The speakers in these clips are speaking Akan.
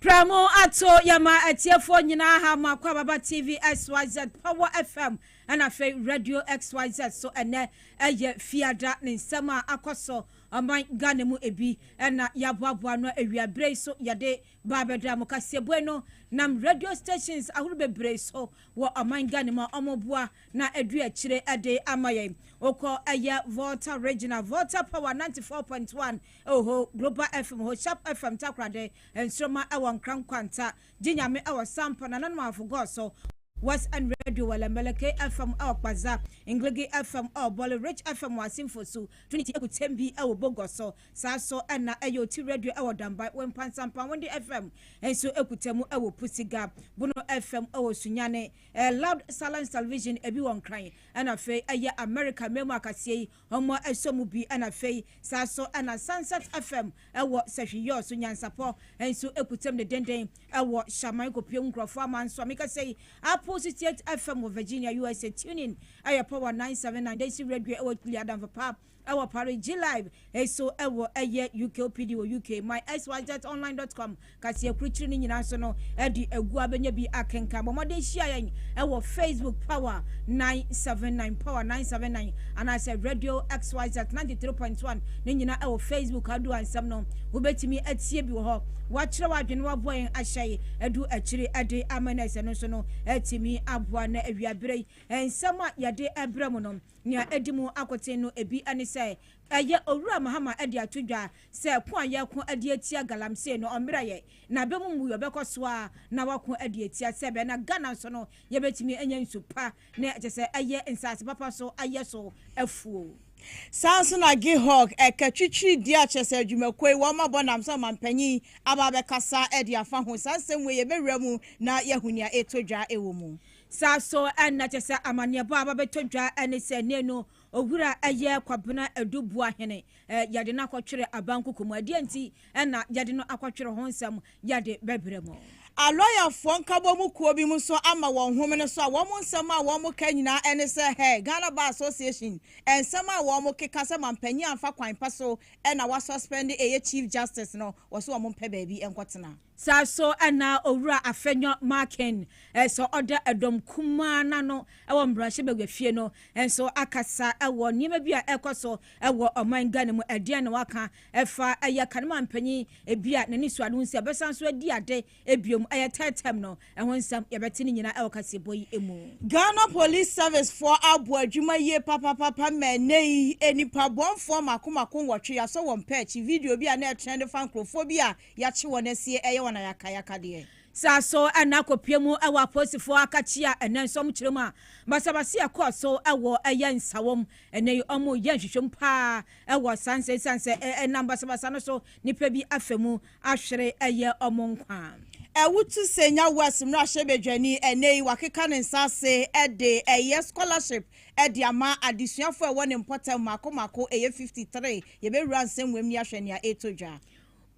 Prɛmo ato yɛma atiefoɔ nyinaa ha mo Akwaababa TV XYZ, Power FM ɛna afei Radio XYZ so ɛnɛ ɛyɛ Fiada ne nsɛm a akɔ so ɔman Ghana mu ebi ɛna yɛaboaboa ano awia berɛ yi so yɛde ba abɛda mo kaseɛbue no nam radio stations ahoro bebree so wɔ ɔman Ghana mu a wɔn boa na adu akyire ɛde ama yɛn wokɔ ɛyɛ Volta Regional Volta Power 94.1 Oho, Global FM ho, Sharp FM Takoradi, Nsoromma ɛwɔ Nkran Nkwanta, Gye Nyame ɛwɔ Sampa, Nananom Awofo Gɔɔ so, West End Radio wɔ Lɛmbɛlɛ, Kay FM ɛwɔ Kpadza, Ngligi FM ɛwɔ Bɔle, Rich FM wɔ Asimfo su, Trinity Kutembi ɛwɔ Bogɔ so, saa nso na ɛyɛ Oti Radio ɛwɔ Dambai, Wempa Nsampa, Wende FM nso kuta mu ɛwɔ Pusiga, Bono FM ɛwɔ Sunyani, Loud Silence Television ebi wɔ Nkran ɛna afei ɛyɛ America mmamu akaseɛ yi Ɔmɔ ɛsɔ mu bi ɛna fei saa so ɛna Sansat FM ɛwɔ sɛhwi yɔɔ so nyansapɔ nso ɛkutam ne denden ɛwɔ Hyaman kɔpie nkurɔfoɔ ama nso a mekasa yi Apple 68 FM wɔ Virginia usa tune in ɛyɛ power 979 Daisy radio ɛwɔ Kpili Adamfo pa ɛwɔ Paris G-live ɛso ɛwɔ ɛyɛ UK OPD wɔ UK my xyz online dot com Kaseɛkurukyiri no nyinaa nso no de agu a bɛnya bi akenkan. Bɔ mmɔden hyia yɛn wɔ Facebook Power 979, Power 979 anaasɛ Radio XYZ 93.1 ne nyinaa wɔ Facebook a du ansɛm no wobɛtumi atie bi wɔ hɔ. Woakyerɛ w'adwene woaboa yɛn ahyɛ yi adu akyiri de ama no ɛsɛ no nso no atumi aboa na awiaberɛ yi nsɛm a yɛde ɛbrɛ mu no nea ɛdi mu akoten no ebi ne sɛ Ɛyɛ Owura Mahama de ato dwa sɛ ko a yɛreko de atia galamsey no, ɔmmrɛ yɛn, na bɛ mu mmuiɛ bɛkɔ so ara na wɔako de atia sɛbɛ, na Ghana nso no yɛbɛtumi anya nsu pa, na kyerɛ sɛ ɛyɛ nsaase papa so ayɛ so afuo. Saa nso na Gihog ka twitwiri deɛ a kyerɛ sɛ adwumakuo yi wɔn abɔ nam sɛ ɔmanpanyin aba abɛkasa de afa ho. Saa nsɛm wei yɛbɛwura mu na yɛahu nea ɛretɔ dwa wɔ mu. Saa nso na kyerɛ sɛ amanneɛbɔ a aba abɛtɔ dwa ne sɛ nnanu Owura yɛ Kwabena Adu Boahene. Yɛde no akɔtwere abankoko mu. Ɛdeɛn nti na yɛde no akɔtwere ho nsɛm yɛde bɛbrɛ mo. Alɔyafoɔ nkabɔmu kuo bi mo nso ama wɔn homene so a wɔn nsɛm a wɔn ka nyinaa ne sɛ hɛɛ Ghana Bar Association nsɛm a wɔn keka sɛ manpanyin amfa kwan pa so na wa suspend ɛyɛ Chief Justice no wɔse wɔn mpɛ baabi nkɔtena. Saa nso na Owura Afenyo Markin nso ɔda dɔm kumaa no ano wɔ mmarahyɛ bagua fie no nso akasa wɔ nneɛma bi a ɛrekɔ so wɔ ɔman Ghana mu. Ɛdeɛn na waka fa ɛyɛ Kanema mpanyin bi a n'ani so ade ho sɛ ɔbɛsan so adi ade bio mu ɛyɛ third term no ɛho nsɛm? Yɛbɛte ne nyinaa wɔ kaseɛbɔ yi mu. Ghana Police Service foɔ abɔ adwuma yie papapapa ma ɛnnɛ yi nnipa bɔnfoɔ mako mako nwɔtwe yɛasɔ wɔn pɛ akyi. Video bi a na ɛtrɛnde fa nkorɔfoɔ bi a Yɛakye wɔn asie ɛyɛ wɔn ayakayaka deɛ. Saa so na akɔpue mu wɔ apolisifoɔ akakyia ɛnɛ nso wɔn kyerɛ mu a basabasayɛ ɛkɔɔ so wɔ ɛyɛ nsawam ɛnɛ yi wɔn yɛ nhwehwɛmu paa ɛwɔ saa nsɛm ɛsiane sɛ ɛnam basabasa no so nipa bi afa mu ahwere ɛyɛ wɔn nkwa. Awutu Senya West mmarahyɛ badwani ɛnɛ yi wakeka ne nsa ase ɛde ɛyɛ scholarship ɛde ama adesuafoɔ ɛwɔ ne mpɔtam mmaako mmaako ɛyɛ 53 yɛbɛwura nsɛm wɔ mu ni ahwɛ nea ɛretɔ dwa.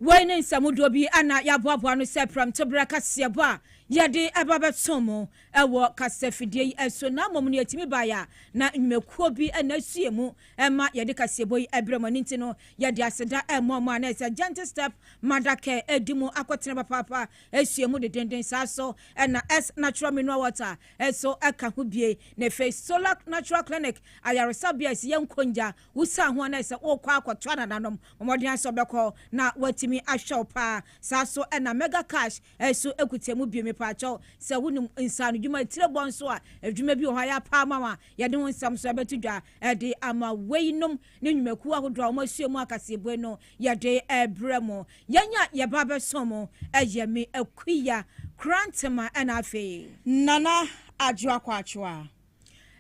Woi ne nsɛmudoɔ bi a na yɛaboaboa ano sɛ prɛmtoberɛ kaseɛbɔ a yɛde ba bɛtoo mo wɔ kasafidie yi so, na mmom nea ɛtumi baeɛ a na nnwumakuo bi na ɛsue mu ma yɛde kaseɛbɔ yi brɛ mo. Ɛno nti no, yɛde aseda ma mo a na ɛyɛ sɛ Gentle Step Mother Care di mu akɔtena papaapa sua mu dendenden saa so na S Natural Mineral Water nso ka ho bie, na afei Solac Natural Clinic ayaresabea a ɛsi yɛn nkongya Wusaa ho anaa sɛ worekɔ akɔto anananom? Mmɔden ara sɛ wobɛkɔ na wɔatumi ahwɛ wo paa. Saa ara nso na Mega Cash nso kuta mu bi. Mepaakyɛw, sɛ wunim nsaanodwuma atirebɔ nso a, adwuma bi wɔ hɔ a yɛapɛ ama wo a, yɛde ho nsɛm nso bɛto dwa de ama wo. Eyinom ne nnwumakuw ahodoɔ a wɔasoɛ mu akaseɛbue no yɛde rebrɛ mo. Yɛn a yɛba abɛsom mo yɛ me akuya Korantema na afei. Nana Adwoa Kwaakyewa.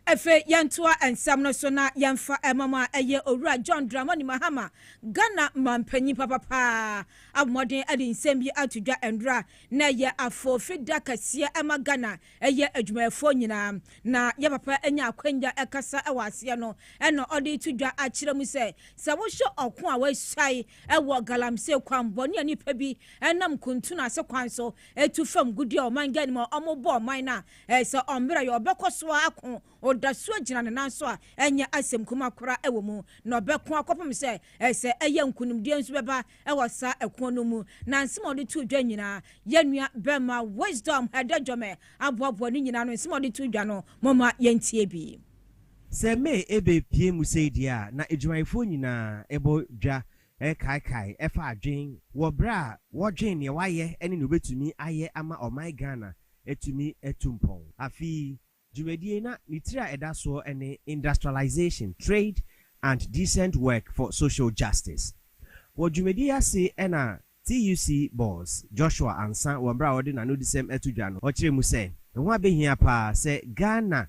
Afei yɛntoa nsɛm no so na yɛmfa mmom a ɛyɛ Owura John Dramani Mahama, Ghana mampanyin papa paa, abɔmmɔden de nsɛm bi ato dwa nnora a na ɛyɛ afoofi da kɛseɛ ma Ghana yɛ adwumayɛfoɔ nyinaa na yɛ papa nya akwanya kasa wɔ aseɛ no na ɔde reto dwa akyerɛ mu sɛ sɛ wohwɛ ɔko a wɔasuae wɔ galamsey kwammɔne a nnipa bi nam kuntunu ase kwan so tu fam gudeɛ ɔman Ghana mu a wɔbɔ ɔman no a ɛyɛ sɛ ɔmmrɛ yɛ ɔbɛkɔ so ara ko, ɔda so agyina ne nan so a ɛnyɛ asɛm kumaa koraa wɔ mu, na ɔbɛko akɔpem sɛ ɛyɛ sɛ ɛyɛ nkonimdie nso bɛba wɔ saa ɛko no mu. Na nsɛm a ɔde too dwa nyinaa, yɛn nua bɛrima Wisdom Hadejome aboaboa ne nyinaa ano, nsɛm a ɔde too dwa no, momma yɛntie bi. Sɛ May ɛbɛ pue mu sei deɛ a, na adwumayɛfoɔ nyinaa bɔ dwa Ɛkaekae fa adwene wɔ berɛ a wɔdwen neɛ wayɛ ne neɛ ɔbɛtumi ayɛ ama ɔman Ghana atumi atu mpɔn. Afei. Dwumadie yi na ne tiri a ɛda soɔ ne Industrialisation, Trade and Decent Work for Social Justice. Wɔ dwumadie yi ase na TUC Boss Joshua Ansah wɔ berɛ a ɔde n'anodisɛm ato dwa no ɔkyerɛɛ mu sɛ, ɛho abɛhia pa ara sɛ Ghana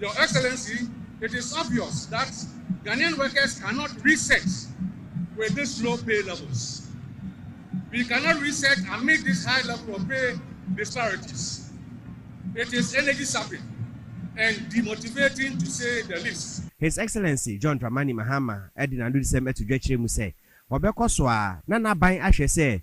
Your Excellency, it is obvious that Ghanaian workers cannot research with this low pay levels. We cannot research amid this high level of pay disparities. It is energy sapping and demotivating to say the least. His Excellency John Dramani Mahama de n'anodisɛm to dwa kyerɛ mu sɛ wɔbɛkɔ so ara na n'aban ahwɛ sɛ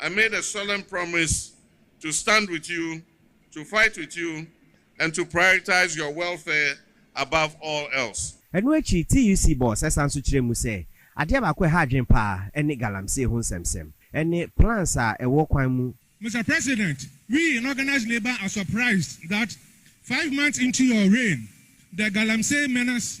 I made a solemn promise to stand with you, to fight with you and to prioritize your welfare above all else. Ɛno akyi, TUC boss san nso kyerɛɛ mu sɛ, adeɛ baako a ɛha adwene pa ara ne galamsey ho nsɛmsɛm ne plans a ɛwɔ kwan mu. Mister President, we in Organised Labour are surprised that five months into your reign, the galamsey menace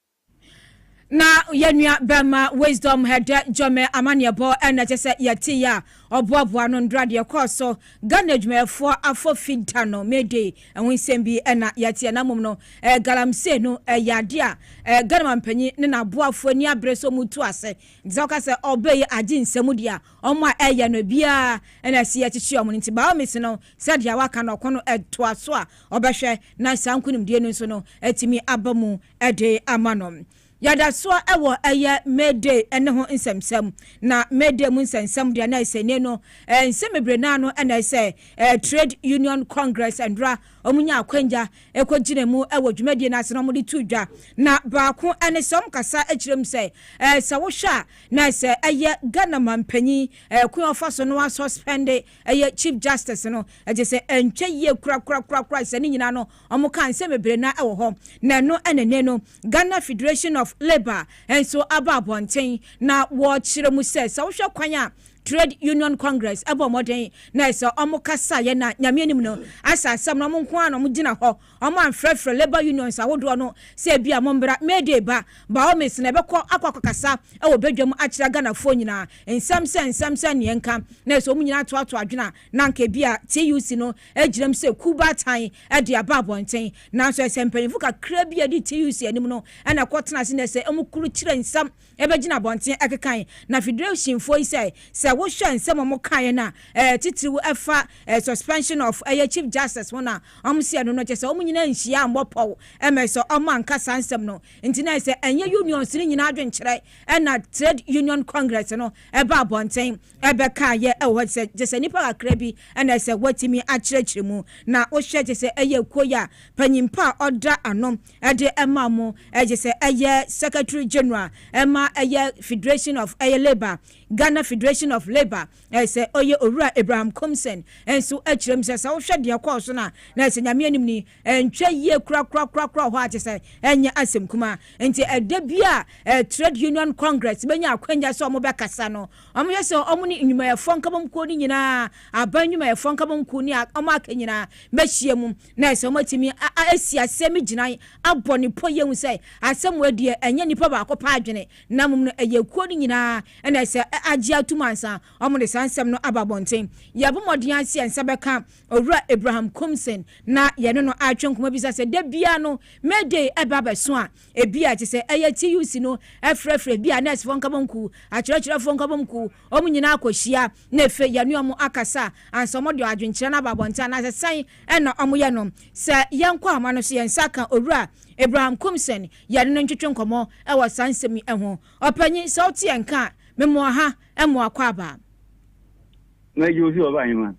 Na yɛn nua bɛrima Wisdom Hɛdɛ Gyɔmɛ amanneɛbɔ na ɛkyɛ sɛ yɛtee a ɔboaboa no ndora deɛ ɛkɔɔ so Ghana adwumayɛfoɔ afɔfi da no May Day ɛho nsɛm bi na yɛteɛ na mmom no eh, galamsey no ɛyɛ adeɛ a eh, Ghana mampanyin ne n'aboafoɔ ani abere so mu tu ase nti sɛ wɔka sɛ ɔbɛyi agye nsɛm deɛ a wɔn a ɛyɛ no biara na ɛsi yɛkyekye wɔn nti baomisi no sɛ deɛ waka no ɔko no toa so a, ɔbɛhwɛ na saa nkonimdie no nso no atumi aba mu de ama no. Yɛda soɔ wɔ ɛyɛ May Day ne ho nsɛmsɛm. Na May Day mu nsɛmsɛm deɛ na ɛsɛ nie no, nsɛm bebree naa no na ɛsɛ, Trade Union Congress nnora wɔn nyaa akwanya kɔ gyina mu wɔ dwumadie no ase na wɔn de too dwa. Na baako ne sɛ wɔn kasa kyerɛ mu sɛ, sɛ wohwɛ a na ɛsɛ ɛyɛ Ghana manpanyin kwan a ɔfa so no a suspɛnde ɛyɛ Chief Justice no, gye sɛ ɛntwa yie korakorakorakoraa sɛ ne nyinaa no wɔkaa nsɛm bebree no ara wɔ hɔ. Na ɛno na ɛnnɛ no Ghana Federation of Labour nso aba abɔnten na wɔrekyerɛ mu sɛ, sɛ wohwɛ kwan a Trade Union Congress bɔɔ mmɔden na ɛsɛ wɔkasaeɛ na Nyame anim no, asɛ asɛm no wɔn nko ara na wɔgyina hɔ, Wɔamfrɛfrɛ labour unions ahodoɔ no sɛ ebia mommra, May Day ba, by all means, na yɛbɛkɔ akɔ akɔkasa wɔ badwam akyerɛ Ghanafoɔ nyinaa. Nsɛm sɛ nsɛm sɛ neɛ nka na ɛsɛ wɔn nyinaa toatoa adwene a, na anka ebia TUC no agyinam sɛ kuw baatan de aba abɔnten. Nanso ɛsɛ mpanyimfo kakraa bi a ɛdi TUC anim no na ɛkɔtena ase na ɛsɛ wɔkurukyire nsɛm Ebegyina abɔnten akekan na fidrewsinfoɔ yi sɛ sɛ wo hwɛ nsɛm ɔmo kaeɛ no a ɛɛ titiriw ɛfa ɛɛ suspension of ɛyɛ chief justice ho na ɔmo sɛ ɛno no kyɛ sɛ ɔmo nyinaa nhyia ammɔ pɔw ɛmɛ sɛ ɔmo anka saa nsɛm no nti na ɛsɛ ɛnyɛ unions no nyinaa adwenkyerɛ ɛna trade union congress no ɛba abɔnten ɛbɛkaeɛ ɛwɔ hɔ sɛ kyɛ sɛ nipa kakra bi ɛna ɛsɛ wɔatumi akyerɛkyerɛ mu na wo hwɛ kyɛ sɛ ɛyɛ kuo yi a panyimpa a ɔda ano ɛde ma mo gye sɛ ɛyɛ Secretary General ma ɛyɛ Federation of ɛyɛ Labour, Ghana Federation of Labour, ɛyɛ sɛ ɔyɛ Owura Abraham Komsen nso kyerɛ mu sɛ sɛ wohwɛ deɛ ɛkɔɔ so no a, na ɛsɛ Nyame anim ni, ɛntwa yie korakorakorakora wɔ hɔ a kyerɛ sɛ ɛnyɛ asɛm kumaa. Nti ɛda biara a Trade Union Congress bɛnya akwanya sɛ wɔbɛkasa no, wɔhwɛ sɛ wɔn ne Nnwumayɛfoɔ Nkabomkuo no nyinaa, Aban Nnwumayɛfoɔ Nkabomkuo ne wɔn aka nyinaa bɛhyia mu. na ɛsɛ sɛ wɔtumi si asɛm mu gyinae abɔ no pɔ yie hu sɛ asɛm wei deɛ ɛnyɛ nnipa baako pɛ adwene na mmom no ɛyɛ ekuo no nyinaa na ɛsɛ agye atom ansa wɔde saa nsɛm no aba abɔnten. Yɛbɔ mmɔden ara sɛ yɛn nsa bɛka Owura Abraham Coomson na yɛne no atwe nkɔmmɔ bisa sɛ da biara no May Day ɛba abɛso a, ebia ɛte sɛ ɛyɛ TUC no frɛfrɛ ebia nɛɛsefoɔ nkabomkuw, akyerɛkyerɛfoɔ nkabomkuw, Wɔn nyinaa kɔhyia na afei yɛne wɔn akasa ansa wɔde wɔn adwenkyerɛ no aba abɔnten anaasɛ sɛn na wɔyɛ no. Sɛ yɛnkɔ ahoma no so yɛn nsa ka Owura Abraham Kumson, yɛne no ntwetwe nkɔmmɔ wɔ saa nsɛm yi ho. Ɔpanyin, sɛ wote yɛn nka a, mema ɔha mmoa akwaaba.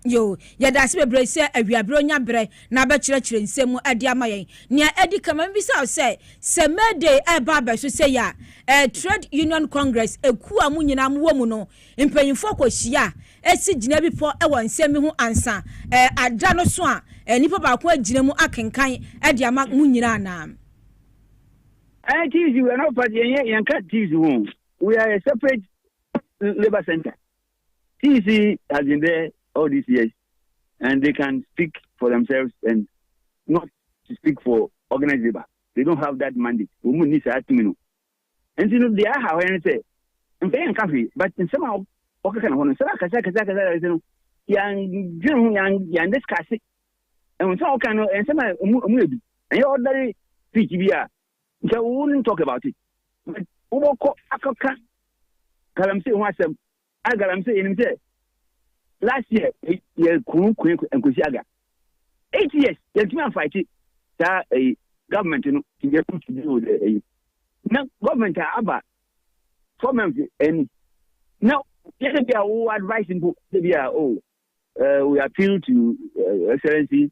Yoo, yɛda ase bebree sɛ awiabere onya bere na abɛkyerɛkyerɛ nsɛm mu de ama yɛn. Nea edi kan, ma mibisa wo sɛ, sɛ May Day reba abɛso sei a, ɛɛ Trade Union Congress akuw a mo nyinaa mowɔ mu no mpanyimfo kohyia a, si gyinabepɔ wɔ nsɛm bi ho ansa ɛɛ ada no so a ɛɛ nipa baako agyina mu akenkan de ama mo nyinaa anaa? Ɛɛ TUC, we are not part, yɛnyɛ, yɛnka TUC ho. We are a separate labour centre. CC has been there all these years and they can speak for themselves and not to speak for organized labor. They don't have that mandate. Wɔn mu ni saa tumi no. Nti no deɛ aha hɔ no sɛ mpɛyɛ nka hwee but nsɛm a wɔkeka no hɔ no nsɛm akɛse akɛse akɛse akɛse no yɛndwene ho yɛn discuss nsɛm a wɔka no nsɛm a ɔmu yɛ bi ɛnyɛ ɔdare speech bi a Nkyɛ wo wouldn't talk about it but wobɔkɔ akɔka galamsey ho asɛm a galamsey yɛnim sɛ last year yɛ kunu kue nkosi aga eight years yɛntumi anfaite saa ɛyi government no to be able to deal with ɛyi na government a aba four months ɛni na yɛde bi a wo advice mpo de bi a oh uh, we appeal to uh, excellency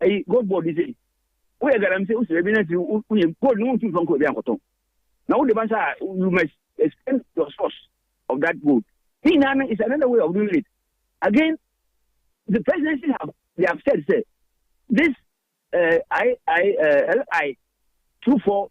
Ɛyi gold board yi sei woyɛ galamsey wo srɛ bi na afiri wo yɛ gold no wontu mfa nkɔ baabi ankɔtɔn na wode ba nsa a you must explain your source of that gold ne nyinaa no is another way of doing it again the presidency have they have said sɛ this uh, I, I, uh, LI 24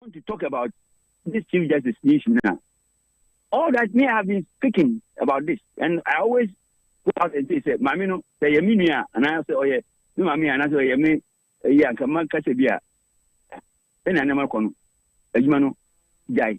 want to talk about this Chief Justice issue now. All that me I have been speaking about this, and I always go out and say, say, Mami no, say yemi niya, and I say, oh yeah, me mami, and I say, oh yeah, me, eh, yeah, come on, catch a beer. Then I never come. Ejima no, jai.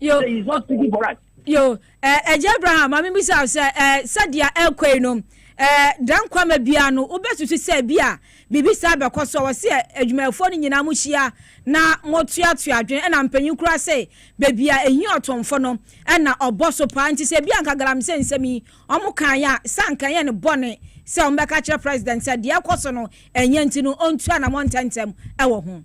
yo he is not speaking for us. yo ɛgye eh, abraham maame bi sɛ sɛ eh, sɛdeɛ ɛkɔ yi no eh, dan kwama biara no wobɛsusu sɛ bi a biribi saa bɛkɔ so wɔ sɛ adwumayɛfoɔ no nyinaa mo hyia na motoatoa adwene ɛna mpanyin kura sɛ baabi a ɛhi ɔtomfo no ɛna ɔbɔ so paa nti sɛ bi anka galam sɛ nsɛm yi ɔmo kan yɛ a sɛ anka yɛ no bɔne sɛ ɔmbɛka kyerɛ president sɛ deɛ ɛkɔ so no ɛnyɛ nti no ɔntua na mɔntɛntɛm ɛwɔ ho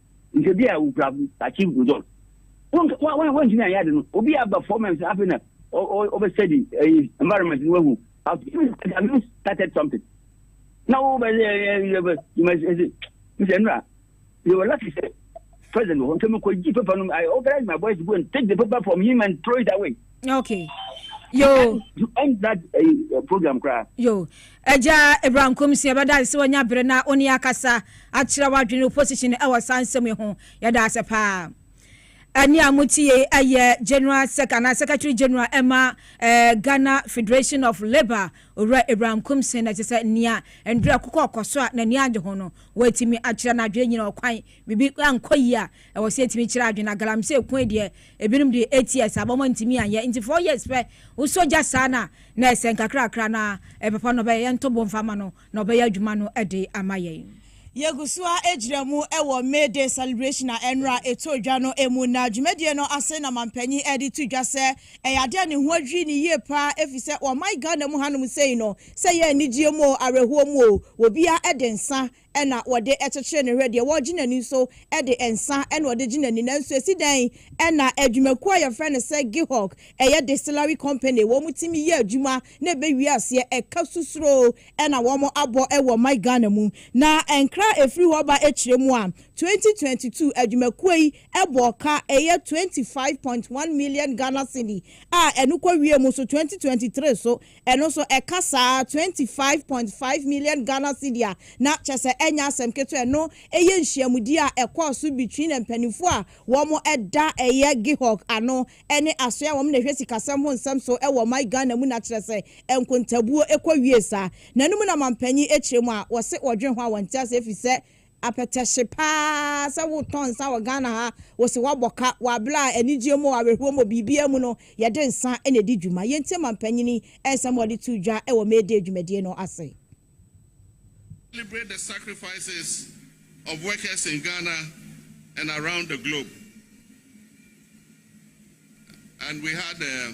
nka bi a wokura achieve result wontumi anyɛ ade no obi aba four months afei na ɔbɛstudy eh, environment no wahu have started something na wobɛsɛ nnura they were lucky sɛ president wɔ hɔ nka mekɔgye paper no I organize my boys to go and take the paper from him and throw it away okay yo ɛnda eh, program koraa yo agya abraham komsi ɛbɛda ase sɛ wanya bere na ɔne akasa akyerɛ w'adwene opposition ɛwɔ saa nsɛm yi ho yɛda ase paa ɛne a motie ɛyɛ general sec anaa secretary general ɛma eh, ghana federation of labour owura abraham komsi na ɛte sɛ nea ndura kokɔ ɔkɔ so a n'ani agye ho no wɔatumi akyerɛ no adwene nyina ɔkwan biribi ankɔ yie a ɛwɔ sɛ ɛtumi kyerɛ adwene agalamsɛ ɛkwan deɛ Ebinom de eight years aba wɔn antumi anyɛ nti four years pɛ wosɔ gya saa no a na ɛsɛ nkakrakra na papa no ɔbɛyɛ yɛnto bo mfa ma no na ɔbɛyɛ adwuma no de ama yɛn. Yɛgu so ara gyina mu wɔ May Day celebration a ɛnnora ɛtɔɔ dwa no mu na dwumadie no ase na manpanin de to dwa sɛ ɛyɛ adeɛ a ne ho adwiri no yie pa ara ɛfiri sɛ ɔman Ghana mu hanom sei no sɛ ɛyɛ anigyeɛ mu oo, awerɛhoɔ mu oo, obiara de nsa na wɔde kyekyere ne hwɛ, deɛ wɔgye n'ani nso de nsã na wɔde gye n'ani. Nanso ɛsi dɛn na adwumakuo a wɔfrɛ no sɛ Gihog, ɛyɛ Distillery Company, wɔn tumi yɛ adwuma na ɛbɛwie aseɛ? Ɛka susuro na wɔabɔ wɔ my Ghana mu. Na nkra a ɛfiri hɔ ba kyerɛ mu a, 2022 adwumakuo yi bɔɔ ka ɛyɛ 25.1 million Ghana cedi a ɛno kɔwiee mu nso 2023 so Ɛno nso ɛka saa twenty five point five million Ghana cedi a na kyerɛ sɛ ɛnyɛ asɛm ketewa. Ɛno yɛ nhyiamudie a ɛkɔɔ so between mpaninfoɔ a wɔn da ɛyɛ Gihog ano ne asoɛ a wɔn na ɛhwɛ sikasɛm ho nsɛm so wɔ ɔman Ghana mu na kyerɛ sɛ nkontabuo kɔ wie saa. N'anom na manpanyin kyerɛ mu a wɔse wɔdwene ho a wɔnte aseɛ ɛfiri sɛ Apɛtɛhye paa sɛ wotɔ nsa wɔ Ghana ha, wose woabɔ ka, wɔ aberɛ a anigyeɛ mu o, awerɛhoɔ mu o, biribiara mu no yɛde nsa na ɛdi dwuma. Yɛntie manpanyini nsɛm a ɔde too dwa wɔ May Day dwumadie no ase. Celebrate the sacrifices of workers in Ghana and around the globe and we had a.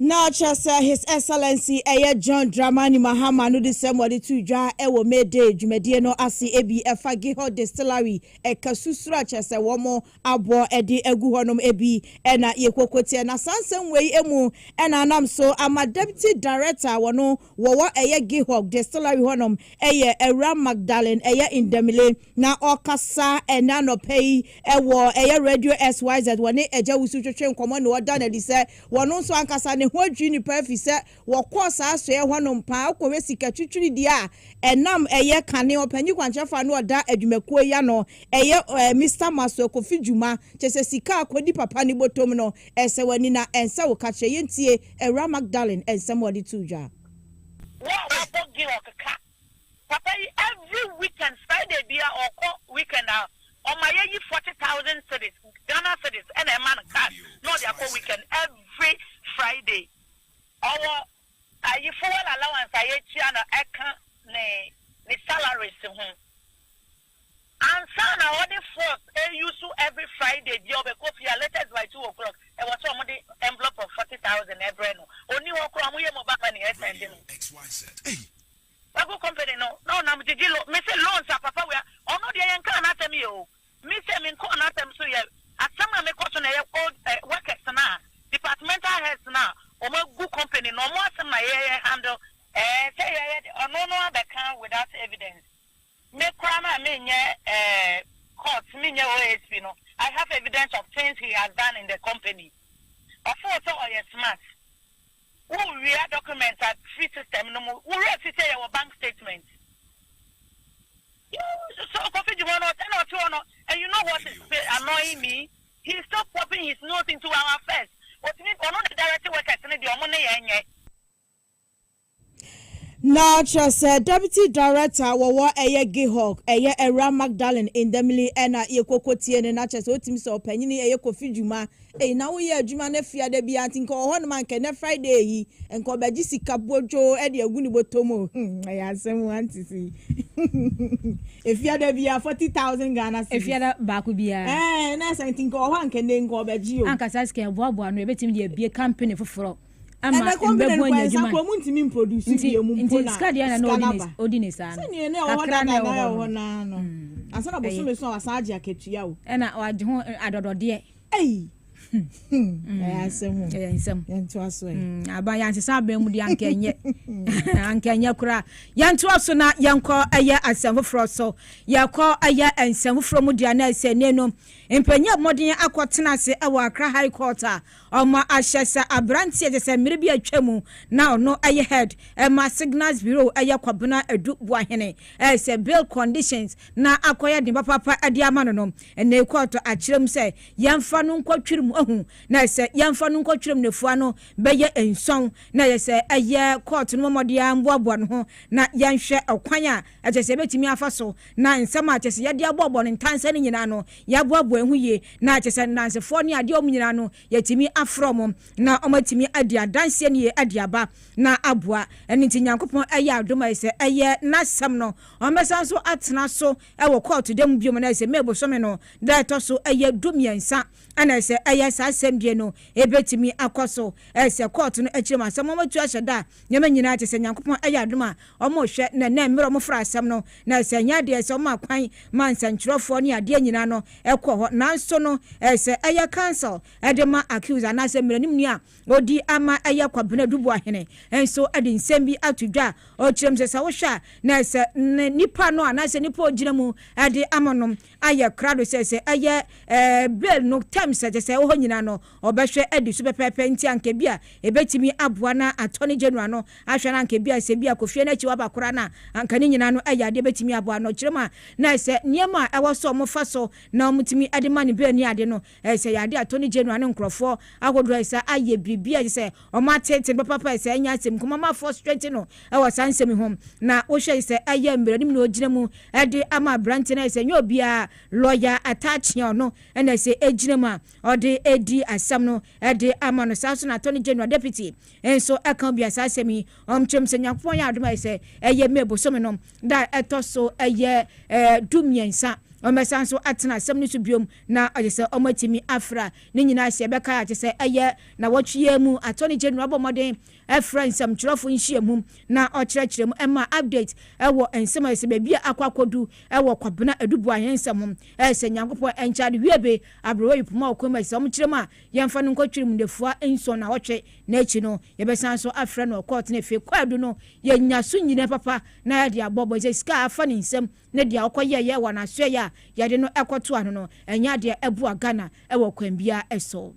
Na kyerɛ sɛ His Excellency ɛyɛ John Dramani Mahama no desɛm wɔde too dwa wɔ May Day dwumadie no ase ebi ɛfa Gihor Distillery ɛka susuro a kyerɛ sɛ wɔn aboɔ ɛde agu hɔ nom ebi ɛna yɛkɔkɔtiɛ na saa nsɛm wei ɛmu ɛna anam so ama Deputy Director a wɔn wɔwɔ ɛyɛ Gihor Distillery hɔ nom ɛyɛ Awura Magdalene ɛyɛ Ndamile Na ɔkasa ɛnɛ anɔpa yi wɔ ɛyɛ Radio SYZ wɔne Agya Wusu twetwe nkɔmmɔ na ɔda no adi sɛ wɔno nso ankasa ne ho adwiri no paa ɛfiri sɛ wɔkɔɔ saa asoɛeɛ hɔ nom paa wokɔhwɛ sika twitwiridie a ɛnam ɛyɛ kane ɔpanyin kwankyerɛfoɔ a na ɔda adwumakuo yi ano ɛyɛ Mister Masuo Kofi Dwuma kyɛ sɛ sika a kɔdi papa ne bɔtɔm no ɛsɛ w'ani na ɛnsɛ wo ka kyerɛ yɛntie Awuraa Magdalene nsɛm a ɔde too dwa. Wo a wabɔ Georg ka Papa yi every weekend Friday bia ɔkɔ weekend a ɔma yɛ yi forty thousand cedis Ghana cedis ɛna ɛma no card na ɔde akɔ weekend every Friday. Ɔwɔ ayi fuel allowance a yɛtua no ɛka ne ne salaries ho. Ansa na ɔde force use every Friday bia ɔbɛkɔ fie a latest by two o'clock ɛwɔ sɛ ɔmo de envelope of forty thousand ɛbrɛ no. Onni hɔ koraa ɔmo yɛ mobile money ɛsɛnde no. Wagu company no na ɔnam gyegye loan. Me se loans a papa wei ɔno deɛ yɛnkaa n'asɛm yɛ o. Me se menkɔɔ n'asɛm so yɛ. Asɛm a mekɔ so na ɛyɛ old workers no a departmental heads no a ɔmo agu company no ɔmo asɛm na yɛ handle. Ɛɛ sɛ yɛyɛ de ɔno no abɛka without evidence. Me koraa no a menyɛ eh, court, menyɛ OSP no, I have evidence of things he has done in the company. Ɔfoo sɛ ɔyɛ smart. Wo wia document a firi system no mu, wo werɛ fi sɛ yɛwɔ bank statement. You, so Kofi Juma no, ɔsɛ na ɔte hɔ no, and you know what is Video annoying me? Video. He is still popping his nose into our affairs. Ɔtumi, ɔno na direct workers no deɛ ɔmo ne yɛn nyɛ. Na kyerɛ sɛ Deputy Director wɔwɔ ɛyɛ GIHOC, ɛyɛ Awuraa Magdalene Ndamili na yɛkɔ kɔ tie no na kyerɛ sɛ ɔtumi sɛ ɔpanyini ɛyɛ Kofi Dwuma ei na wo yɛ adwuma no afia da biara nti nka ɔwɔhɔnom a nka ɛnɛ Friday yi nka ɔbɛgye sika bwodwoo ɛde agu ne bɔtɔ mu o hmm ɛyɛ asɛm o ante sei afia da biara 40,000 Ghana cedis afia da baako biara ɛɛ na ɛsɛ nti nka ɔwɔhɔ a nka ɛnɛ nka ɔbɛgye o anka saa sika ɛboaboa no ɛbɛtumi de abie company foforɔ ama mbɛbɔ enya edwuma no nti nti sika deɛ na na ɔdi ne ɔdi ne saa no kakra na ɛwɔ hɔ no ɛna ɔagye ho adɔdɔdeɛ ɛyɛ nsɛm aba yɛansesa abɛn mu deɛ anka ɛnyɛ anka ɛnyɛ koraa yɛntoa so na yɛnkɔ ɛyɛ asɛm foforɔ so yɛkɔ ɛyɛ nsɛm foforɔ mu deɛ na ɛsɛ ne no mpanyin mmɔden akɔtena ase ɛwɔ akra high court a Ɔma ahyɛ sɛ aberanteɛ kyɛ sɛ mmerɛ bi a atwa mu na ɔno yɛ head ma signals bureau yɛ Kwabena Adu Boahene sɛ bail conditions na akɔyɛ den papaapa de ama no no nnɛyi kɔɔto akyerɛ mu sɛ yɛmfa no nkɔ twere mu ahu na ɛsɛ yɛmfa no nkɔ twere mu nafua no bɛyɛ nson na ɛyɛ sɛ ɛyɛ kɔɔto no mmɔ mmɔden ara mmoaboa ne ho na yɛnhwɛ ɔkwan a a ɛsɛ sɛ yebetumi afa so na nsɛm a ɛsɛ sɛ yɛde abɔ bɔ no ntansa no nyinaa no, yɛaboaboa ɛho yie, na ɛsɛ sɛ nnansefoɔ ne adeɛ a wɔn nyinaa no, yɛtumi afrɛ wɔn na wɔatumi adi adanseɛ no yie de aba na aboa. Ɛno nti, Nyankopɔn ayɛ adom a ɛsɛ sɛ ɛyɛ N'asɛm no, wɔbɛsan nso atena so wɔ kɔɔto da mu bio, na ɛsɛ sɛ May bosome no da a ɛtɔ so ɛyɛ du mmiɛnsa na ɛsɛ sɛ ɛyɛ saa asɛmdie no ɛbɛtumi akɔ so. Ɛsɛ sɛ kɔɔto no akyire mu asɛm wɔatu ahyɛ da a nneɛma nyinaa te sɛ Nyankopɔn ayɛ adom a wɔrehwɛ na na mmerɛ wɔfra asɛm no, na sɛ ɛnyɛ adeɛ sɛ wɔma kwan ma nsɛntwerɛfoɔ ne adeɛ nyinaa no kɔ hɔ, nanso no sɛ ɛyɛ council de ma accused anaa sɛ mmaranimni a ɔdi ama ɛyɛ Kwabena Duboahene nso de nsɛm bi ato dwa a ɔkyerɛm sɛ sɛ wohwɛ a na sɛ nipa no anaa sɛ nipa ɔgyina mu de ama no ayɛ krado sɛ sɛ ɛyɛ bill no terms a ɛsɛ sɛ ɛwɔ hɔ nyinaa no, ɔbɛhwɛ adi so pɛpɛɛpɛ. Enti anka ebia ebetumi aboa na Attorney General no ahwɛ na anka ebia sɛ ebia Kofi Annan Akyi waba koraa no a, anka ne nyinaa no yɛ ade a ebetumi aboa no. Kyerɛ mu a, na sɛ nneɛma a ɛwɔ sɛ wɔfa so na wɔtumi de ma no bail ne ade no, Ɛsɛ yɛ ade a Attorney General ne nkorɔfoɔ ahodoɔ ɛsɛ ayɛ biribi a ɛsɛ sɛ wɔn atete no papapa a ɛsɛ ɛnyɛ asɛm nkomo ama fɔ strengthen no ɛwɔ saa nsɛm yi ho na wohwɛ ɛsɛ ɛyɛ mmaranim na ɔgyina mu ɛde ama aberanteɛ no ɛsɛ ɛnyɛ obiara lawyer ataakyea ɔno ɛna ɛsɛ ɛgyina mu a ɔde ɛdi asɛm no ɛde ama no saa nso na Attorney General Deputy nso ɛka obi a saa asɛm yi wɔn kyerɛ mu sɛ Nyankopɔn yɛ adom a ɛsɛ ɛyɛ May bosome no da a ɛtɔ so ɛyɛ ɛɛ du mmiɛnsa wɔn bɛsan nso atena asɛm no so biom Na ɔgye sɛ wɔatumi afra ne nyinaa sɛ ɛbɛkae a, kyerɛ sɛ ɛyɛ nnawɔtwe yi ara mu. Attorney General abɔ mmɔden afrɛ nsɛmtwerɛfo nhyiamu na ɔkyerɛkyerɛ mu mma update wɔ nsɛm a ɛsɛ sɛ baabi a akɔ akɔdu wɔ Kwabena Aduboa ahensɛm ho. Ɛyɛ sɛ Nyankopɔn nkyɛade wie be aberewa yi poma wɔ kwan mu a ɛsɛ sɛ wɔkyerɛ mu a, yɛmfa no nkɔtwere mu nnafua nson nnawɔtwe na akyi no yɛbɛsan nso afrɛ no wɔ kɔɔto na afei kwaadu no yɛanya so nyinaa papa na yɛde abɔ bɔ sɛ sika a afa ne nsam ne deɛ ɔkɔyɛeɛ wɔ n'asoɛeɛ a yɛde no kɔto ano no, ɛnyɛ adeɛ ɛboa Ghana wɔ kwan biara so.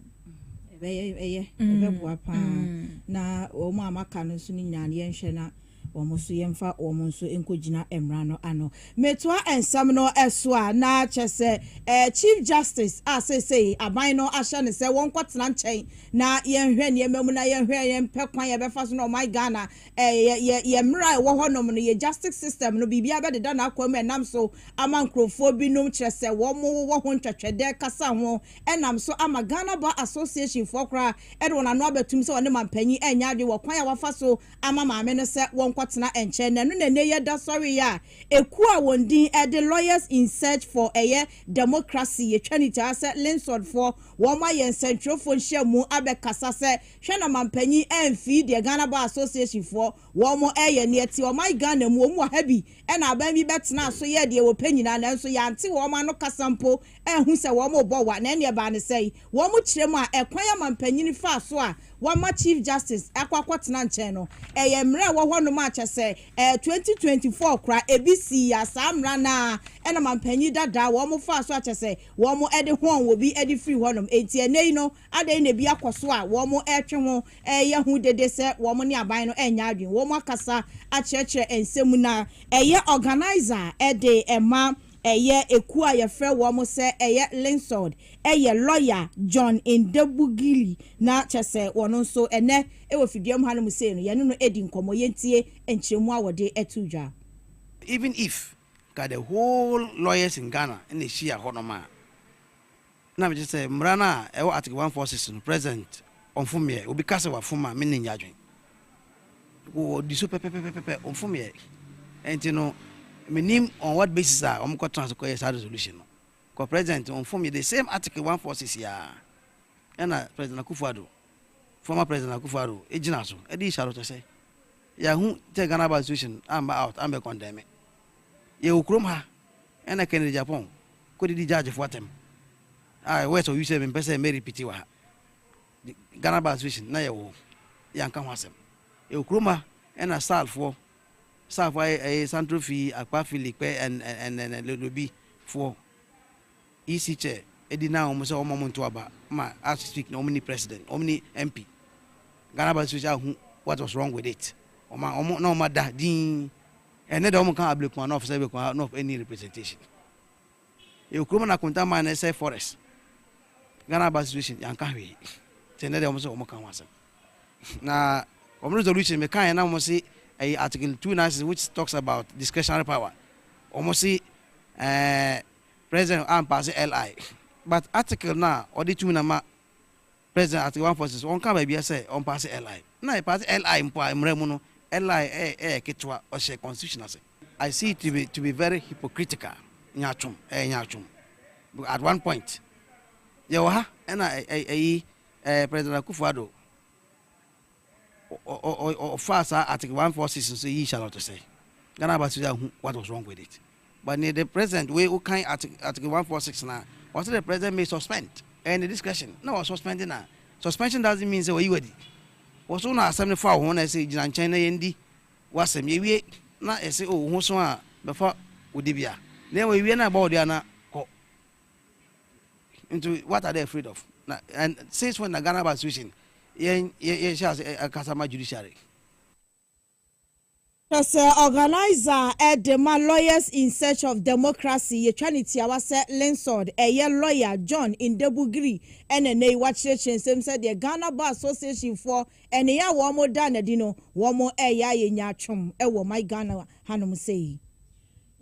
Ɛbɛyɛ, ɛyɛ, ɛbɛboa pa ara. Na wɔn a wɔaka no nso no nyinaa no, yɛnhwɛ na wɔn nso, yɛmfa wɔn nso nkɔgyina mmara no ano. Metoa nsɛm no so a, na kyerɛ sɛ eh, Chief Justice a seesei aban no ahyɛ no sɛ wɔnkɔtena nkyɛn na yɛnhwɛ nneɛma mu na yɛnhwɛ, yɛmpɛ kwan a yɛbɛfa so na ɔman Ghana yɛ yɛ yɛ mmara a ɛwɔ hɔnom no, yɛ justice system no, biribiara bɛdeda n'akwan mu ɛnam so ama nkurɔfoɔ binom, kyerɛ sɛ wɔn wɔ ho ntwɛtwɛdɛ kasa ho, ɛnam so ama Ghana Bar Association foɔ koraa de wɔn ano abɛtom sɛ wɔne mampanyin ɛnyɛ adwene wɔ kwan a wɔafa so ama maame no sɛ wɔnkɔtena nkyɛn no. Ɛno na ɛnnɛ yi ɛda sɔreeɛ a ɛkuo a wɔn din de Lawyers in Search for ɛyɛ Democracy, yɛtwa no tiaa sɛ LINSOD foɔ, wɔn ayɛ nsɛntwerɛfoɔ nhyiamu abɛkasa sɛ Hwɛ na ɔmanpanyin ɛmfii deɛ Ghana Bar Association foɔ wɔn ɛɛyɛ neɛ ɛteɛ ɔman Ghana mu wɔn wɔ ha bi ɛna aban bi bɛtenaa so yɛɛ deɛ wɔpɛ nyinaa nanso yɛante wɔn ano kasa mpo anhu sɛ wɔn rebɔ wa na ɛneɛ ɛbaa ne sɛn wɔn kyerɛ mu a ɛkwan a manpanyin faa so a wɔama Chief Justice akɔ akɔtena nkyɛn no ɛyɛ mmara a ɛwɔ hɔ nom a kyɛsɛ ɛyɛ 2024 kora ɛbi sii ya saa mmara no ara ɛna manpanyin dadaa wɔn faa so a kyɛsɛ wɔn ɛde hɔn wɔbi ɛde firi hɔ nom ɛnti ɛnɛ yi no Adɛn na ebi akɔ so a wɔretwe ho reyɛ hu dede sɛ wɔn ne aban no renyɛ adwene? Wɔakasa akyerɛkyerɛ nsɛm mu na ɛyɛ organiser a ɛde ma ɛyɛ ekuo a yɛfrɛ wɔn sɛ ɛyɛ Linsold yɛ lawyer John Ndebugili na kyerɛ sɛ wɔn nso ɛnnɛ wɔ fidua mu hanom sei no yɛne no redi nkɔmmɔ. Yɛntie nkyerɛmu a wɔde too dwa. Even if nka the whole lawyers in Ghana na ɛhyia hɔnom a, na megye sɛ mmara no a ɛwɔ Article one four six no, President ɔmfomeɛ, obi ka sɛ wafom a me nni nnye adwene. Wɔdi so pɛpɛpɛpɛpɛ, ɔmfomeɛ. Ɛnti no, menim on what basis a wɔn kɔ tena so kɔyɛ saa resolution no. Kɔ President ɔmfomeɛ, the same Article one four six yi ara ɛna President Akufo-Addo, former President Akufo-Addo, gyina so de yi Charlotte sɛ, yɛahu sɛ Ghana Bar Association amba out ambɛ condemne. Yɛwɔ kurom ha ɛna Kennedy Agyapong kɔdidi judgefoɔ atɛm a west ɔwi sɛ mempɛ sɛ mɛ repeat wɔ ha. Ghana bar association na yɛwɔ hɔ yɛanka ho asɛm. Yɛwɔ kurom ha ɛna SALfoɔ SALfoɔ ayɛ ɛyɛ Santro Fee, Akpa Fee, Likpɛ and and and Lodobi foɔ EC chair ɛdi na wɔn sɛ wɔn a wɔn nto aba ma as we speak na wɔn ni president wɔn ni MP. Ghana bar association ahu what was wrong with it wɔn a wɔn na wɔn ada dinn. Ɛnɛ dɛ wɔn ka Ablekuma North sɛ Ablekuma North nni representation. Yɛwɔ kurom na Akonta mine na ɛsɛe forest. Ghana aba situation yɛanka hwee. Nti ɛnɛ dɛ wɔn sɛ wɔn ka ho asɛm. Na wɔn resolution me kaeɛ na wɔn se ɛyɛ article two nine six which talks about discretionary power. Wɔn se ɛɛ president ampaase LI but article no a ɔde tumi na ma President Article One Forces wɔnkaa baabiara sɛ ɔmpaase LI. Na yɛpaase LI mpo a mmara mu no LI yɛ ketewa, ɔhyɛ constitution ase. I see it to be to be very hypocritical, nyaatwom, ɛyɛ nyaatwom. Because at one point yɛwɔ ha ɛna ɛyi President Akufo-Addo. ɔfaa saa article one four six no so yii Charlotte sɛ Ghana Aba Sisi ahu what was wrong with it but near the president wei wokan article one four six na ɔsɛ the president may suspend and the discretion na wɔ suspend na suspension doesn't mean sɛ wɔyi wadi wɔ so na asɛm no fa wo ho na ɛsɛ gyina nkyɛn na yɛndi wasɛm yɛwie na ɛsɛ o oh, wo ho so a bɛfa wo de bia na ɛwɔ yɛwie na ɛbɔ wo de ana kɔ Nti what are they afraid of? Na and since when na Ghana Bar Association yɛn yɛn yɛn hyɛ ase ɛkasa ma judiciary? Kyerɛ sɛ organiser a ɛde ma Lawyers in Search of Democracy yɛtwa no tiawa sɛ LINSOD ɛyɛ lawyer John Ndebu Giri na nnɛ yi wakyerɛkyerɛ nsɛm sɛ deɛ Ghana Bar Association foɔ nneyɛɛ a wɔn da no adi no wɔn ɛyɛ ayɛ nyaatwom wɔ my Ghana hanom sei.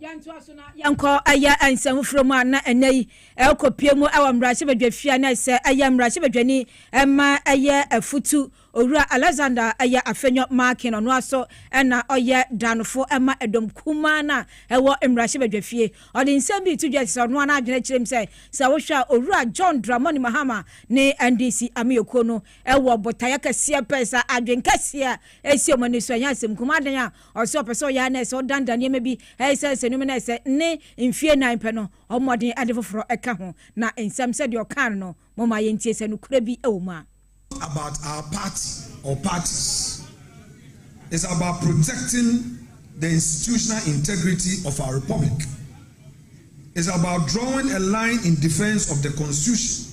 Yɛntoa so na yɛnkɔ ɛyɛ nsɛm foforɔ mu a na ɛnɛ yi ɛrekɔpue mu wɔ mmarahyɛbadwafie a na ɛsɛ ɛyɛ mmarahyɛbadwani ma ɛyɛ afutu Owura Alexander ɛyɛ Afenyo Markin ɔno ara so na ɔyɛ danfo ma ɛdɔm kumaa no a ɛwɔ mmarahyɛbadwafie ɔde nsɛm bi reto dwa ɛsɛ sɛ ɔno ara n'adwene kyerɛ mu sɛ sɛ wohwɛ a Owura John Dramani Mahama ne NDC amanyɔkuo no ɛwɔ botaeɛ kɛseɛ pɛɛ sɛ adwene kɛseɛ a ɛsi wɔn ani so ɛnyɛ asɛm nko mu adan a Ɔse ɔpɛ sɛ ɔyɛ ara na ayɛ sɛ ɔdandan nneɛma bi ɛyɛ sɛ nsɛnniiɛ mu na ayɛ sɛ ne mfie nnan pɛ no ɔbɔ mmɔden ɛde foforɔ ɛka ho na nsɛm sɛdeɛ ɔkaa no no momma yɛntie sɛ nokorɛ bi ɛwɔ mu a. about our party or parties is about protecting the institutional integrity of our republic, is about drawing a line in defence of the constitution,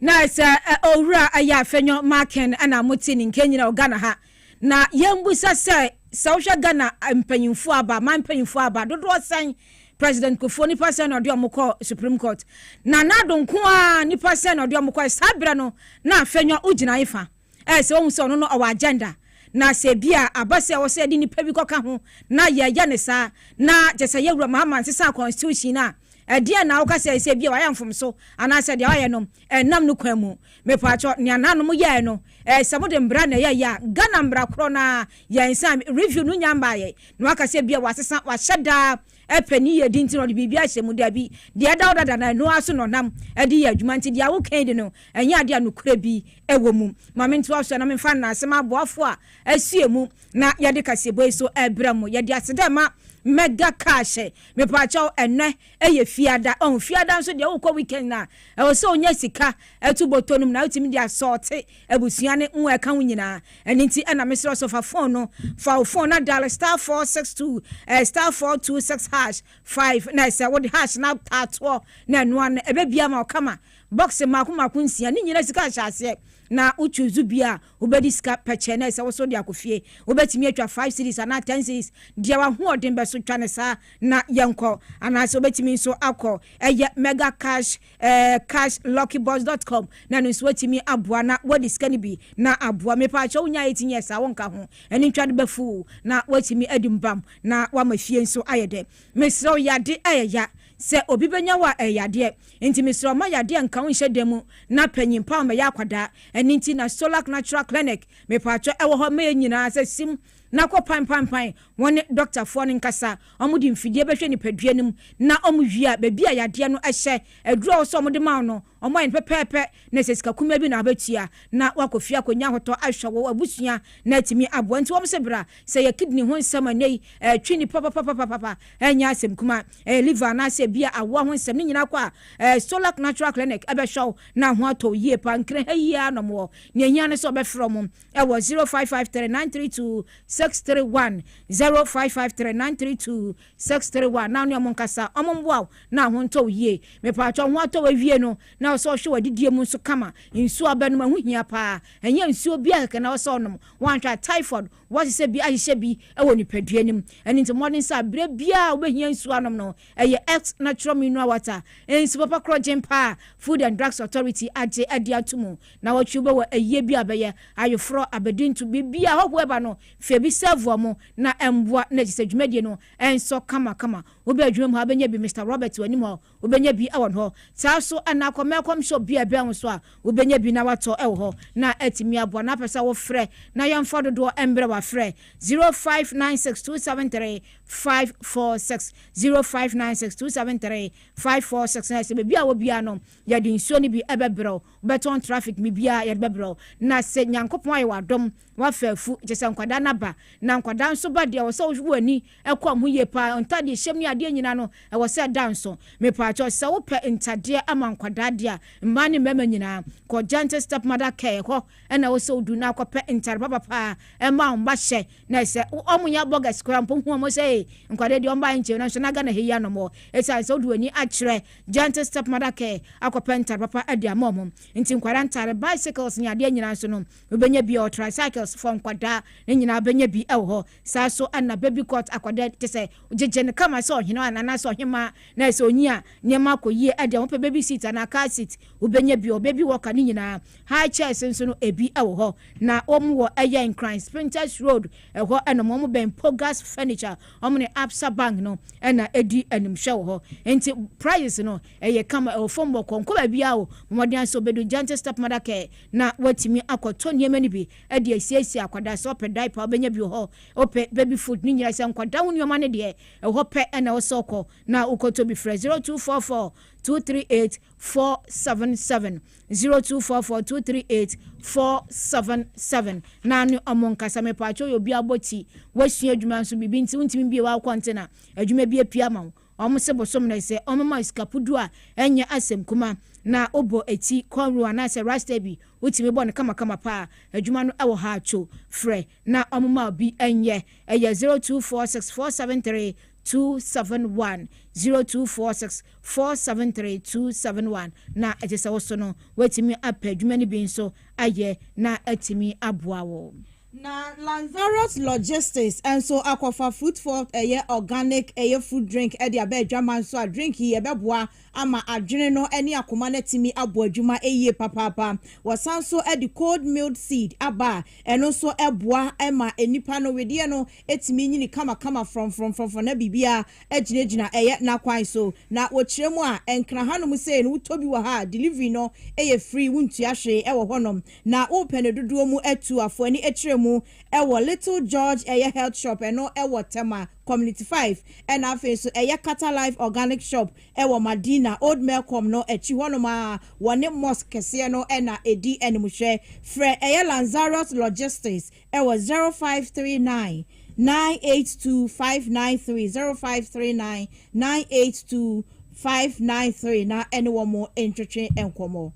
Na sɛ Owura Ayafenyo Markin na mote ne nkenyina wɔ Ghana ha, na yɛmmusa sɛ, sɛ wohwɛ Ghana mpanyimfoɔ aba, aman mpanyimfoɔ aba dodoɔ sɛn? President Kufuor, nnipa sɛn na ɔde wɔn kɔɔ Supreme Court? Nana Addo nko ara, nnipa sɛn na ɔde wɔn kɔe? Saa berɛ no, na Afenyo wogyina he fa? ɛyɛ sɛ wohu sɛ ɔno no ɔwɔ agenda, na sɛ ebia aba sɛ ɛwɔ sɛ yɛde nnipa bi kɔka ho na yɛyɛ no saa, na kyerɛ sɛ yɛn Wura Mahama nsesaa Constitution no a, ɛdeɛn na woka sɛ sɛ ebia wayɛ mfomso anaasɛ deɛ wayɛ no ɛnnam no kwan mu? Mepatwɔ, nea naanom yɛɛ no, ɛyɛ sɛ mode mmara na ɛyɛeɛ a, Ghana mmara korɔ no ara yɛn sɛ review no nnya mmaeɛ, na woaka sɛ ebia wɔasesa, wɔahyɛ da pɛ ne yiyedi nti na ɔde biribi ahyɛ mu. Dabi, deɛ ɛda hɔ dada na ɛno ara so na ɔnam de yɛ adwuma. Nti deɛ woka yi de no, ɛnyɛ adeɛ a nokorɛ bi wɔ mu. Ma mentoa so na memfa nnansa m'aboafoɔ a asoɛ mu na yɛde kaseɛbɔ yi so rebrɛ mo. Yɛde ase dɛ ma Mega Cash. Mepaakyɛw, ɛnnɛ yɛ Fiada. Ɔho, Fiada nso deɛ wokɔ weekend a, ɛwɔ sɛ wonya sika to bɔtɔ no mu na wotumi de asɔɔte Abusua ne mo a ɛka ho nyinaa. Ɛno nti na mesrɛ wo sɛ fa phone no, fa wo phone na dial star four six two eh, star four two six hash five na ɛsɛ wode hash na taa toɔ na ɛno ano ɛbɛbia ama wo kama. Box mmaako mmaako nsia, ne nyinaa sika nhyɛ aseɛ na wo choose bi a wobɛdi sika pɛkyɛ na ɛsɛ wo so de akɔ fie. Wobɛtumi atwa five series anaa ten series deɛ w'ahoɔden bɛso twa no saa na yɛnkɔ anaasɛ wobɛtumi nso akɔ ɛyɛ mega cash eh, cash luckybox dot com na ɛno nso atumi aboa na wɔde sika no bi na aboa mepa akyɛ wonya eighteen years a wonka ho ɛne ntwa de bɛfu na watumi adi mbam na wama fie nso ayɛ dɛ mesrɛ wo yade ɛyɛ ya sɛ obi bɛnya wo a ɛyɛ yadeɛ nti mesrɛ ɔma yadeɛ nka wo nhyɛ da mu na panyin pa ɔmɛyɛ akwadaa ɛne nti na solac natural clinic mepa akyɛ ɛwɔ hɔ mɛyɛ nyinaa sɛ sim na kɔ panpanpan wɔne dɔktafoɔ no nkasa. Wɔde mfidie bɛhwɛ nipadua no mu na wɔwie a, baabi a yadeɛ no hyɛ, aduro a ɛwɔ sɛ wɔde ma wo no, wɔayɛ no pɛpɛɛpɛ na ɛsɛ sika kumaa bi na wobɛtua na woakɔ fie akɔnya ahotɔ ahwɛ wo abusua na atumi aboa. Nti wɔse bra, sɛ ɛyɛ kidney ho nsɛm a nnɛyi ɛretwe nnipa papapapapapa, ɛnyɛ asɛm kumaa. Ɛyɛ liver anaasɛ ebia awoɔ ho nsɛm, ne nyinaa kɔ a, ɛɛ Stolac Natural Clinic bɛhwɛ wo na ho atɔ wo yie paa. Nkran ha yi ara na wɔwɔ. Nea ɛhia ne sɛ wobɛfrɛ wɔn. ɛwɔ zero five five three nine three two six three one zero five five three nine three two six three one na ɔne ɔmo nkasa ɔmo mboa wo na ho ntɔ wo yie mepaatwa ho atɔ wawie no na ɔsɛ ɔhwɛ wadidie mu nso kama nsuo abɛnom ɛho hia paa ɛnyɛ nsuo bia kɛkɛ na ɔsɛ ɔnom wanhwɛ typhoid wɔhyehyɛ bi ahyehyɛ bi ɛwɔ nipadua no mu ɛne nti mmɔden sɛ abirɛ biaa wobɛhia nsuo anom no ɛyɛ ex natural mineral water nsu papa korɔ gyen paa food and drugs authority agye adi ato mu Naawɔtwe wobɛ wɔ ayie bi a bɛyɛ, ayoforɔ, abɛdi ntu, biribi a hɔhoɔ ɛba no fɛ bi sɛvoa mu na ɛmboa na ɛsisɛ dwumadie no ɛnsɔ kama kama. Wobɛ adwuma mu ha wobɛnya bi Mister Robert wɔ anim hɔ wobɛnya bi ɛwɔ hɔ saa so anaa kɔ Melcom shop bi a ɛbɛn wo so a wobɛnya bi na watɔ ɛwɔ hɔ na atumi aboa na apɛsɛ wo frɛ na yɛnfa dodoɔ ɛmbrɛ wo afrɛ 0596273546 0596273546 na ɛsɛ baabi a wɔ biara no Yɛde nsuo no bi bɛbrɛ wo, wobɛtɔn traffic me biaa yɛde bɛbrɛ wo. Na se Nyankopɔn ayɛ wo adom, wafa afu, kyesɛ nkwadaa no aba. Na nkwadaa nso ba deɛ, ɛwɔ sɛ wohwe w'ani kɔ wɔn ho yie paa. Ntadeɛ hyɛm ne adeɛ nyinaa no, ɛwɔ sɛ ɛda nso. Mepaakyɛw, sɛ wopɛ ntadeɛ ama nkwadaa deɛ a, mmaa ne mmarima nyinaa, kɔ Gentle Stepmother Care hɔ. ɛna ɛwɔ sɛ wodu no akɔpɛ ntare papa paa ɛma wɔn ba hyɛ na sɛ wɔn nyɛ bɔgɛs koraa mpo hu wɔn sɛ ee nkwadaa deɛ wɔn ba nkyɛn nanso na Ghana ha yi anɔmɔ ɛsiane sɛ wode w'ani akyerɛ gentle stepmother care akɔpɛ ntare papa de ama wɔn nti nkwadaa ntare bicycles ne adeɛ nyinaa nso no wobɛnya bi ɛwɔ tricycles for nkwadaa ne nyinaa wobɛnya bi ɛwɔ hɔ saa so ɛna baby court akwadaa te sɛ gyegye no kama sɛ ɔhene anaasɛ ɔhemaa na sɛ onyi a nneɛma akɔ yie ɛdeɛ wɔpɛ baby seat anaa car seat wobɛnya bi ɔ baby walker ne nyinaa High church nso no ebi wɔ hɔ na wɔn wɔ ɛyɛ nkran spintex road ɛhɔ nom wɔn bɛn pogas furniture wɔn ne absa bank no ɛna edi animhwɛ wɔ hɔ nti prices no ɛyɛ kama ɛwɔ fam wɔ kɔnkɔ baabi a o mɔmɔden asɛ obedu gentle stepmother care na watumi akɔtɔ nneɛma no bi ɛde asiesie akwadaa sɛ ɔpɛ diaper ɔbɛnya bi wɔ hɔ ɔpɛ baby food ne nyinaa sɛ nkwadaa ho nneɛma no deɛ ɛhɔ pɛ ɛna ɔsɛ ɔkɔ na wokɔtɔ bi frɛ 0244 238 four seven seven zero two four four two three eight four seven seven na ne ɔmo nkasa mepatwa oyɛ obi abɔ ti wasua adwuma nso biribi nti wontumi bie w'awo kɔnte na adwuma bi apia ma wo ɔmo se bosom na sɛ ɔmo ma sikapudu a ɛnyɛ asɛm kuma na wobɔ eti kɔnro anaasɛ rasta bi wotumi bɔ no kamakama paa adwuma no ɛwɔ ha to frɛ na ɔmo ma obi ɛnyɛ ɛyɛ zero two four six four seven three 027024647327 na ɛte sɛ wo so no, woatumi apɛ adwuma no bi nso ayɛ na atumi aboa wo. Na Lanzarote Logistics nso akɔfa Fruit Forte, ɛyɛ organic, ɛyɛ fruit drink de aba adwaman so a drink yi ɛbɛboa ama adwene no ne akoma no atumi abɔ adwuma yie papaapa. Wɔsan nso de cold milled seed aba a, ɛno nso boa ma nnipa no wedeɛ no tumi nyini kamakama frɔmfrɔmfrɔmfrɔm na biribiara gyinagyina ɛyɛ n'akwan so. Na wɔkyerɛ mu a, ɛnkra hanom sei no wotɔ bi wɔ ha a, delivery no yɛ free, wontua hwee wɔ hɔnom. Na wopɛ no dodoɔ mu a tu afoani kyerɛ mu wɔ Little George ɛyɛ health shop, ɛno wɔ Tema. Community Five, ɛna afei nso ɛyɛ Qatar Life Organic Shop wɔ Madina, Old Melcom no akyi hɔnom ara, wɔne Mosque kɛseɛ no na ɛdi animhwɛ. Frɛ ɛyɛ Lanzarot Logistics wɔ zero five three nine, nine eight two, five nine three, zero five three nine, nine eight two, five nine three, na ɛne wɔn ntwetwe nkɔmmɔ.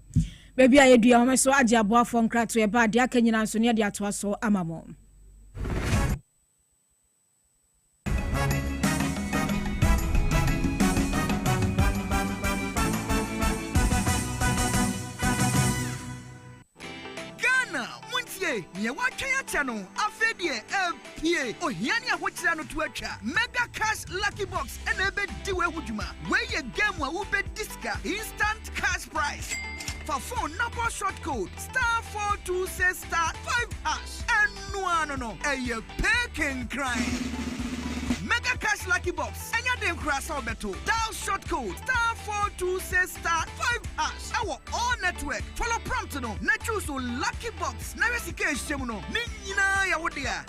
Baabi a yɛdua wɔn nso agye aboafoɔ nkratoɛ ba a deɛ aka nyinaa nso no yɛde atoa so ama mo. nea wɔatwɛn akyɛ no afei deɛ ɛpie ohia ne ahokyerɛ no to atwa mega cash lucky box ɛna ɛbɛdi wei ho dwuma wei yɛ game a wobɛdi sika instant cash price fa phone na bɔ short code star 426 star 5 hash Ɛno ara no no, ɛyɛ pay kenkran. Mega Cash Lucky Box ɛnyɛ den koraa sɛ wobɛto. Dial short code star four two six star five hash ɛwɔ all network. Follow prompt no na choose wo lucky box na hwɛ sika a ɛhyɛ mu no. Ne nyinaa yɛ wo dea.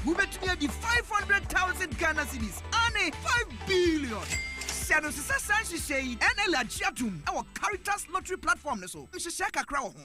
Wobɛtumi adi five hundred thousand Ghana cedis aane five billion. Hyɛ no nso sɛ saa nhyehyɛɛ yi ɛna ɛle agye atom ɛwɔ Caritas lottery platform no so. Nhyehyɛɛ kakra wɔ ho.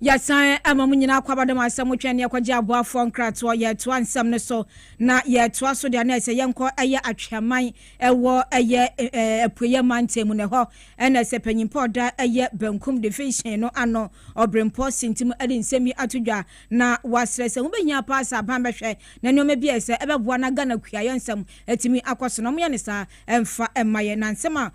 Yɛsan ma mo nyinaa akwaaba dɛ mo asan mu twɛn neɛ kɔgye aboafoɔ nkratoɔ. Yɛretoa nsɛm no so na yɛretoa so deɛ na ɛsɛ yɛnkɔ ɛyɛ Atweaman ɛwɔ ɛyɛ Apueɛ Mantam mu na ɛhɔ na ɛsɛ Panyinpɔ a ɔda ɛyɛ Benkum Division no ano Ɔbrempɔ Sintim ɛde nsɛm yi ato dwa na wasrɛ sɛ hobɛhia paa sɛ aban bɛhwɛ na nnoɔma bi a ɛsɛ ɛbɛboa na Ghana kuayɛ nsɛm atumi akɔ so no ɔmoyɛ no saa ɛmfa ɛmma yɛn na nsɛm a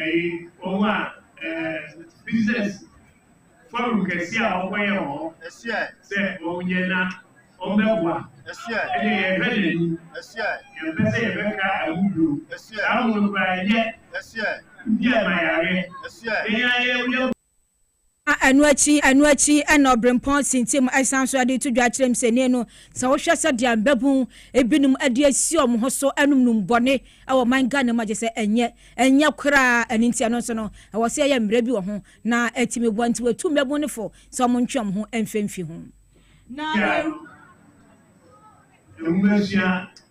ɛyi wɔn a ɛɛ business forum kɛse a wɔkɔyɛ wɔ hɔ sɛ wɔnyɛ na wɔbɛboa ɛne yɛhwɛ n'ani yɛmpɛ sɛ yɛbɛka ɛho bio saa mu no koraa ɛnyɛ bi a ma yareɛ yɛn ayɛ Ɛno akyi ɛno akyi na ɔberempɔn sintim san nso de to dwa kyerɛ mu sɛ, Nnɛ no, sɛ wohwɛ sɛdeɛ mmabunu binom de asi wɔn ho so nom nom bɔne wɔ ɔman Ghana mu a, gye sɛ ɛnyɛ ɛnyɛ koraa. Ɛno nti ɛno nso no, ɛwɔ sɛ yɛyɛ mmara bi wɔ ho na atumi boa. Nti wɔatu mmabunu no fo sɛ wɔntwe wɔn ho mfimfi ho. Na. Ghana. Nwomasua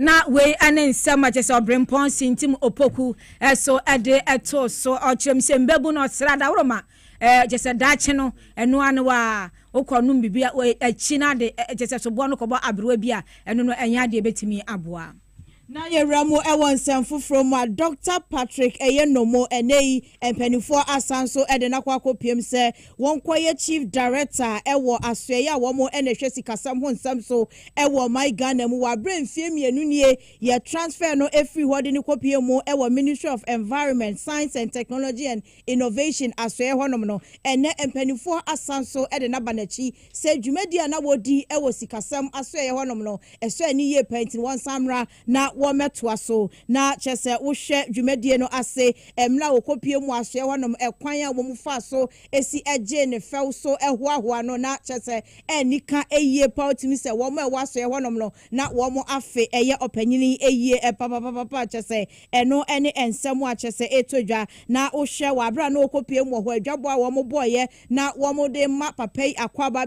Na wei ne nsɛm a kyerɛ sɛ ɔberempɔn sintim Opoku so de too so. Ɔkyerɛmhyɛmmabun, ɔsra, daworo ma Ɛɛ, gye sɛ daakye no, ɛno ara ne wo a wokɔnom biribi a akyi no ade, gye sɛ soboɔ no kɔbɔ aberewa bi a, ɛno no ɛnyɛ adeɛ a ɛbɛtumi aboa. Na yɛwura mu wɔ nsɛm foforɔ mu a, Dɔkta Patrick Eyenommo, ɛnnɛ yi mpanimfoɔ asan nso de no akɔ akɔpiem sɛ wɔnkɔyɛ Chief Director wɔ asoɛeɛ a wɔn na ɛhwɛ sikasɛm ho nsɛm so wɔ ɔman Ghana mu, wɔ aberɛ a mfeɛ mmienu nie yɛ transfer no firi hɔ de no kɔpue mu wɔ Ministry of Environment, Science and Technology and Innovation Asoɛe hɔnom no, ɛnnɛ mpanimfoɔ asan nso de no aba n'akyi sɛ dwumadie a na wɔdi wɔ sikasɛm asoɛeɛ hɔnom no, ɛsɔe ani yie paa nti no wɔnsan mmra na wɔmmɛtoa so. Na kyerɛ sɛ wohwɛ dwumadie no ase mmerɛ a wɔkɔpue mu asoɛe hɔnom, ɛkwan a wɔn faa so si gyee no fɛw so hoahoa no, na kyerɛ sɛ anni ka yie paa, wotumi sɛ wɔn a ɛwɔ asoɛe hɔnom no, na wɔn afe yɛ ɔpanyin yi ayie papapapapa kyɛ sɛ ɛno ne nsɛm a kyɛ sɛ ɛtɔ dwa na wohwɛ wɔ aberɛ a na wɔkɔpiem wɔ hɔ adwabɔ a wɔn bɔeɛ na wɔn de ma papa yi akwaaba